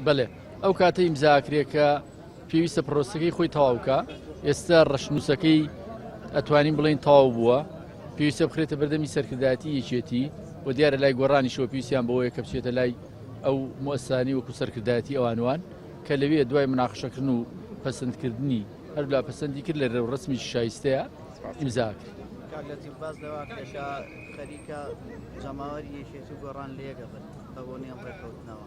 بەلێ ئەو کاتە ئیمزا ئەکرێ کە پێویستە پرۆسەکەی خۆی تەواو کا ئێستا ڕەشنووسەکەی ئەتوانین بڵێین تەواو بووە پێویستە بخرێتە بەردەمی سەرکردایەتی یەکێتی و دیارە لای گۆڕانیشەوە پێویستیان بەوەیە کە بچێتە لای ئەو مؤسسانی وەکو سەرکردایەتی ئەوانوان کە لەوێ دوای مناقشەکردن و پەسەندکردنی هەرلا پەسەندی کرد لە رێ و ڕسمی شایستەیە ئیمزا کرد. کاک لەتیف باس لەوە کرێت کە خەریکە جەماوەری یەکێتی و گۆڕان لەیەک ئەبن بە بۆنەی ئەم ڕێککەوتنەوە.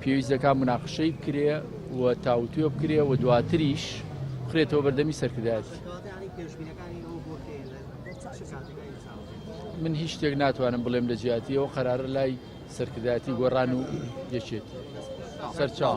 پێویست دەکات مناقشەی بکرێ و تاوتوێ بکرێ و دواتریش بخرێتەوە بەردەمی سەرکردایەتی من هیچ شتێک ناتوانم بڵێم لە جیاتیەوە قەرارە لای سەرکردایەتی گۆڕان و یەکێت سەرچاو.